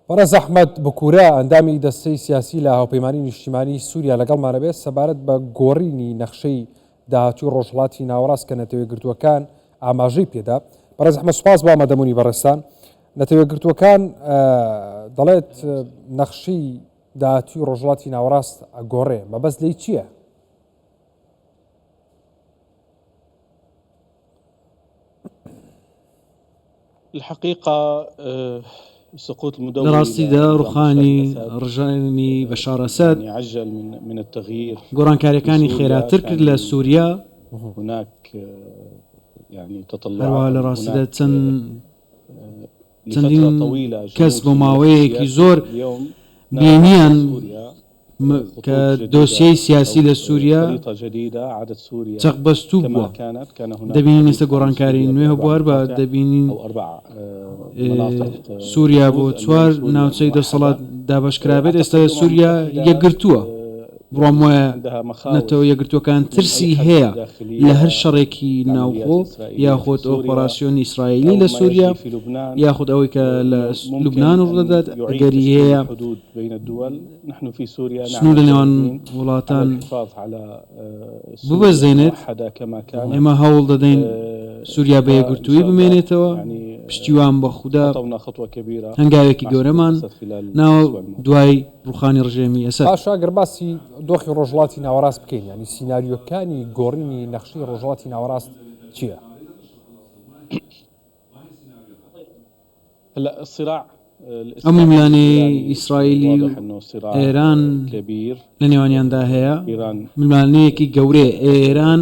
بەڕێز ئەحمەد بکورە ئەندامی دەستەی سیاسی لە هاوپەیمانی نیشتیمانی سووریا لەگەڵمانەبێت سەبارەت بە گۆڕینی نەخشەی داهاتوی ڕۆژهڵاتی ناوەڕاست کە نەتەوە گرتووەکان ئاماژەی پێدا بەڕێز ئەحمەد سوپاس بۆ ئامادەبوونی بەڕێستان نەتەوە گرتووەکان دەڵێت نەخشی داهاتوی ڕۆژهڵاتی ناوەڕاست ئەگۆڕێ مەبەست لی چییە؟ لە ڕاستیدا ڕوخانی ڕژێمی بەشار ئەسەد گۆڕانکارییەکانی خێراتر کرد لە سووریا، هەروەها لە ڕاستیدا چەند چەندین کەس بۆ ماوەیەکی زۆر بینییان کە دۆسیەی سیاسی لە سووریا چەقبەستوو بووە. دەبینین ئێستا گۆڕانکاری نوێ هەبووە، هەر بە دەبینین سووریا بۆ چوار ناوچەی دەسەڵات دابەشکرابێت، ئێستا سووریا یەکگرتووە. بڕوام وایە نەتەوە یەکگرتووەکان ترسی هەیە لە هەر شەڕێکی ناوخۆ یاخود ئۆپەڕاسیۆنی ئیسرائیلی لە سوریا یاخود ئەوەی کە لە لوبنان ڕوودەدات ئەگەری هەیە سنور لە نێوان وڵاتان ببەزێنێت ئێمە هەوڵ دەدەین سوریا بە یەکگرتووی بمێنێتەوە پشتیوان بە خودا هەنگاوێکی گەورەمان ناوە دوای ڕوخانی ڕژێمی ئەسەد. پاشا ئەگەر باسی دۆخی ڕۆژهەڵاتی ناوەڕاست بکەین یانی سیناریۆکانی گۆڕینی نەخشەی ڕۆژهەڵاتی ناوەڕاست چییە؟ ئەو ململانێیەی ئیسرائیلی و ئێران لە نێوانیاندا هەیە ململانێیەکی گەورەیە. ئێران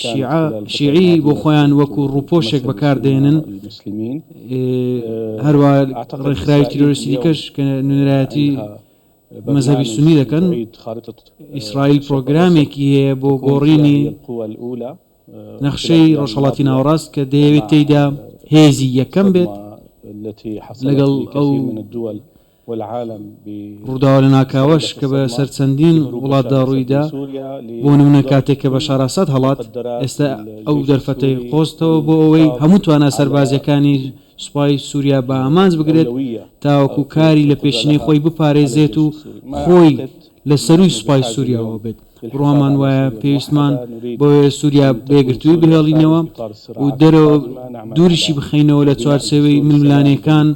شیعە، شیعی، بۆ خۆیان وەکو ڕووپۆشێک بەکار دەهێنن، هەروا ڕێکخراوی تیرۆریستی دیکەش کە نوێنەرایەتی مەزهەبی سوننی دەکەن. ئیسرائیل پرۆگرامێکی هەیە بۆ گۆڕینی نەخشەی ڕۆژهەڵاتی ناوەڕاست کە دەیەوێت تێیدا هێزی یەکەم بێت لەگەڵ ئەو والعالم بە. ڕووداوە لەناکاوەش کە بە سەر چەندین وڵاتدا ڕووی دا، بۆ نموونە کاتێک کە بەشار ئاساد هەڵات، ئێستا ئەو دەرفەتەی قۆزتەوە بۆ ئەوەی هەموو توانا سەربازییەکانی سوپای سووریا بە ئامانج بگرێت تاوەکوو کاری لە پێشینەی خۆی بپارێزێت و خۆی لە سەرووی سوپای سووریاوە بێت، بڕوامان وایە پێویستمان بەوەیە سووریا بە یەکگرتوویی بهێڵینەوە و دەرەوە دووریشی بخەینەوە لە چوارچێوەی ململانێکان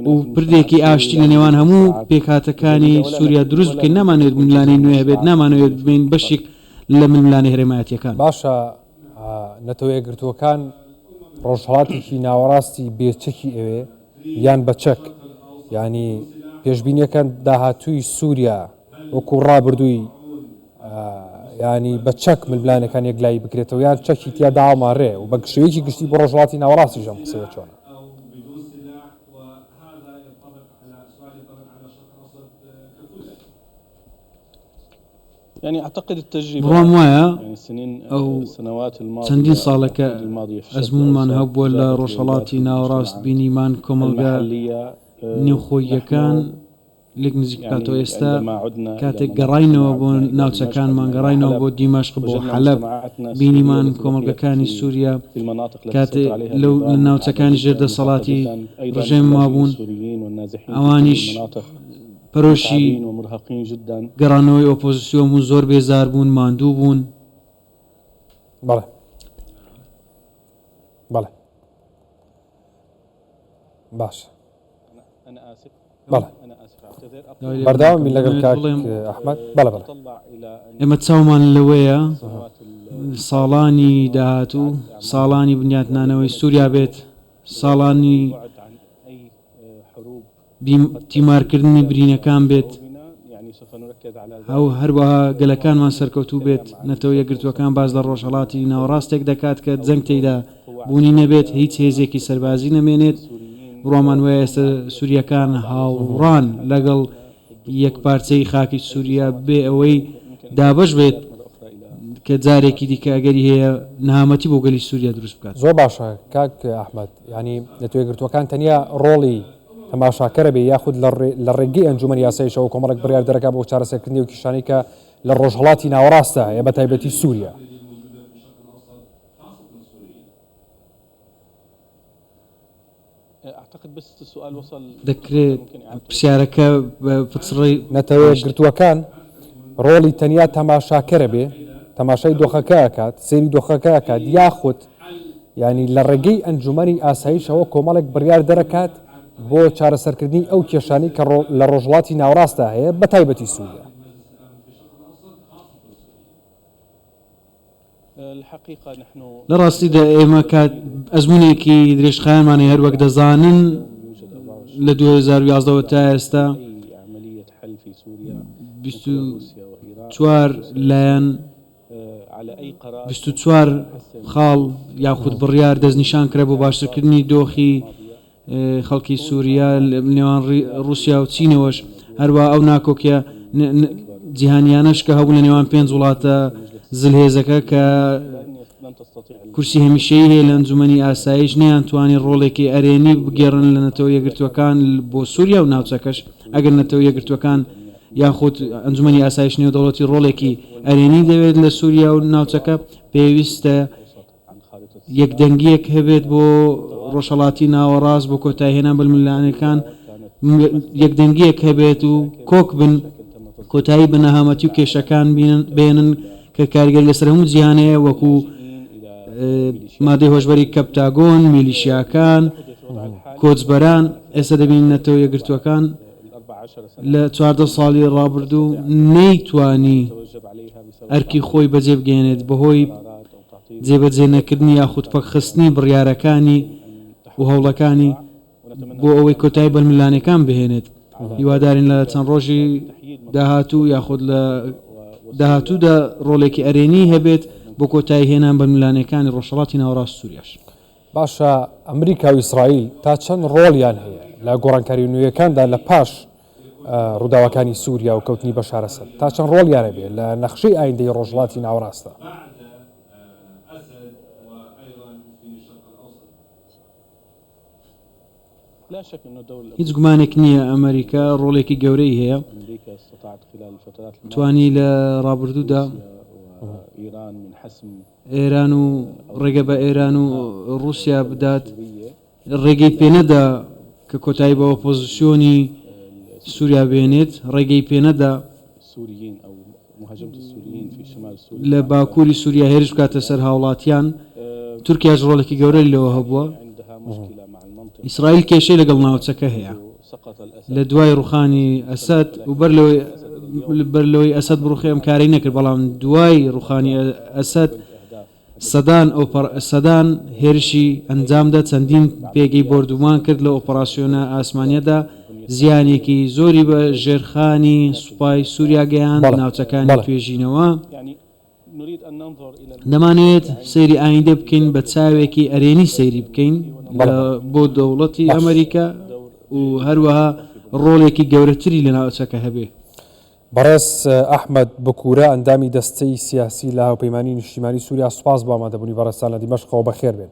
و پردێکی ئاشتی لە نێوان هەموو پێکهاتەکانی سووریا دروست بکەین، نامانەوێت ململانێی نوێ هەبێت، نامانەوێت ببین بەشێک لە ململانێ هەرێمایەتییەکان. باشە نەتەوە یەکگرتووەکان ڕۆژهەڵاتێکی ناوەڕاستی بێ چەکی ئەوێ؟ یان بە چەک یانی پێشبینیەکەن داهاتووی سووریا وەکو ڕابردووی ینی بە چەک ململانەکان یەکلایی بکرێتەوە یان چەکی تیا داواماڕێ و بە گشتەیەکی گشتی بۆ ڕۆژڵاتی ناوەڕاستی ژەم قسەیە چۆن بڕوام وایە ئەو چەندین ساڵە کە ئەزموونمان هەبووە لە ڕۆژهەڵاتی ناوەڕاست بینیمان کۆمەڵگا نێوخۆییەکان لێک نزیک بکاتەوە ئێستا کاتێک گەڕاینەوە بۆ ناوچەکانمان گەڕاینەوە بۆ دیمەشق بۆ حەلەب بینیمان کۆمەڵگەکانی سووریا کاتێ لەو ناوچەکانی ژێر دەسەڵاتی ڕژێم مابوون ئەوانیش پەرۆشی گەڕانەوەی ئۆپۆزسیۆن بوون، زۆر بێزار بوون، ماندوو بوون. بەڵێ. بەڵێ. باشە. ئێمە چاومان لەوەیە ساڵانی داهاتوو ساڵانی بنیاتنانەوەی سووریا بێت ساڵانی بیم تیمارکردنی برینەکان بێت و هەروەها گەلەکانمان سەرکەوتوو بێت، نەتەوە یەکگرتووەکان باس لە ڕۆژهەڵاتی ناوەڕاستێک دەکات کە جەنگ تێیدا بوونی نەبێت، هیچ هێزێکی سەربازی نەمێنێت، بڕوامان وایە ئێستا سورییەکان هاوڕان لەگەڵ یەکپارچەیی خاکی سوریا بێ ئەوەی دابەش بێت کە جارێکی دیکە ئەگەری هەیە نەهامەتی بۆ گەلی سوریا دروست بکات. زۆر باشە کاک ئەحمەد. یانی نەتەوەیەکگرتووەکان تەنیا ڕۆڵی تەماشاکەرە بێ یاخود لە ڕێگەی ئەنجومەنی یاساییشەوە کۆمەڵێک بڕیار دەرەکە بۆ چارەسەرکردنی و کیشانەی کە لە ڕۆژهەڵاتی ناوەڕاستدا هەیە بە تایبەتی سووریا. دەکرێت پرسیارەکە پچڕی. نەتەوەیەکگرتووەکان ڕۆڵی تەنیا تەماشاکەرە بێ تەماشای دۆخەکە ئەکات سەیری دۆخەکە ئەکات یاخود یانی لە ڕێگەی ئەنجومەنی ئاسایشەوە کۆمەڵێک بڕیار دەرەکات بۆ چارەسەرکردنی ئەو کێشانەی کە لە ڕۆژهەڵاتی ناوەڕاستدا هەیە بە تایبەتی سوریا. لە ڕاستیدا ئێمە کات ئەزمونێکی درێژخایەنمان هەیە هەروەک دەزانن لە دوو هەزار و یازدە وە تا ئێستا بیست و چوار لایەن بیست و چوار خاڵ یاخود بڕیار دەستنیشانکرا بۆ باشترکردنی دۆخی خەڵکی سووریا لە نێوان ڕووسیا و چینەوەش هەروە ئەو ناکۆکیە جیهانیانەش کە هەبوو لە نێوان پێنج وڵاتە زلهێزەکە کە کورسی هەمیشەی هەیە لە ئەنجومنی ئاسایش نیان توانی ڕۆڵێکی ئەرێنی بگێڕن لە نەتەوە یەگرتوەکان بۆ سووریا و ناوچەکەش ئەگەر نەتەوە یەگرتوەکان یاخود ئەنجومەنی ئاسایش نێودەوڵەتی ڕۆڵێکی ئەرێنی دەوێت لە سوریا و ناوچەکە پێویستە یەکدەنگیەک هەبێت بۆ ڕۆژهڵاتی ناوەڕاست بۆ کۆتایهێنان بەملانەکان یەکدەنگیەک هەبێت و کۆک بن کۆتایی بە نەهامەتی و کێشەکان بێنن کە کارگەری لەسەر هەموو جیهانەیە وەکو مادەی هۆشبەری کەپتاگۆن میلیشیاکان کۆچبەران ئێستا دەبین نەتەوە یەگرتووەکان لە چواردە ساڵی ڕابردوو نەیتوانی ئەرکی خۆی بەجێبگەیەنێت بەهۆی جێبەجێ نەکردنی یاخود پەکخستنی بڕیارەکانی و هەوڵەکانی بۆ ئەوەی کۆتایی بەلملانەکان بهێنێت هیوادارین لە چەند ڕۆژی داهاتوو یاخود لە داهاتوودا ڕۆلێکی ئەرێنی هەبێت بۆ کۆتایی هێنان بەلملانەکانی ڕۆژهڵاتی ناوەڕاست سووریاش. باشە ئەمریکا و ئیسرائیل تا چەند ڕۆڵیان هەیە لە گۆڕانکاری نوێیەکاندا لە پاش ڕووداوەکانی سووریا و کەوتنی بەشار ئەسەد تا چەند ڕۆڵیانە بێت لە نەخشەی ئایندەی ڕۆژهەڵاتی ناوەڕاستدا؟ هیچ گومانێک نییە ئەمریکا ڕۆڵێکی گەورەی هەیە توانی لە ڕابردوودا ئێران و ڕێگە بە ئێران و ڕووسیا بدات، ڕێگەی پێنەدا کە کۆتایی بە ئۆپۆزسیۆنی سووریا بهێنێت، ڕێگەی پێنەدا لە باکووری سووریا هێرش بکاتە سەر هاوڵاتیان، تورکیاش ڕۆڵێکی گەورەی لەوە هەبووە. ئیسرائیل کێشەی لەگەڵ ناوچەکە هەیە. لە دوای ڕوخانی ئەسەد و بەر لەوەی بەر لەوەی ئەسەد بڕوخێ ئەم کارەی نەکرد بەڵام دوای ڕوخانی ئەسەد سەدان سەدان هێرشی ئەنجامدا چەندین پێگەی بۆردومان کرد لە ئۆپەراسسیۆنە ئاسمانیەدا زیانێکی زۆری بە ژێرخانی سوپای سووریا گەیان ناوچەکانی توێژینەوە دەمانەوێت سەیری ئایندە بکەین بە چاوێکی ئەرێنی سەیری بکەین بۆ دەوڵەتی ئەمریکا و هەروەها ڕۆڵێکی گەورەتری لە ناوچەکە هەبێ. بەڕێز ئەحمەد بکورە ئەندامی دەستەی سیاسی لە هاوپەیمانی نیشتیمانی سوریا سوپاس بۆ ئامادەبونی بەڕێزتان لە دیمەشقەوە بەخێربێن.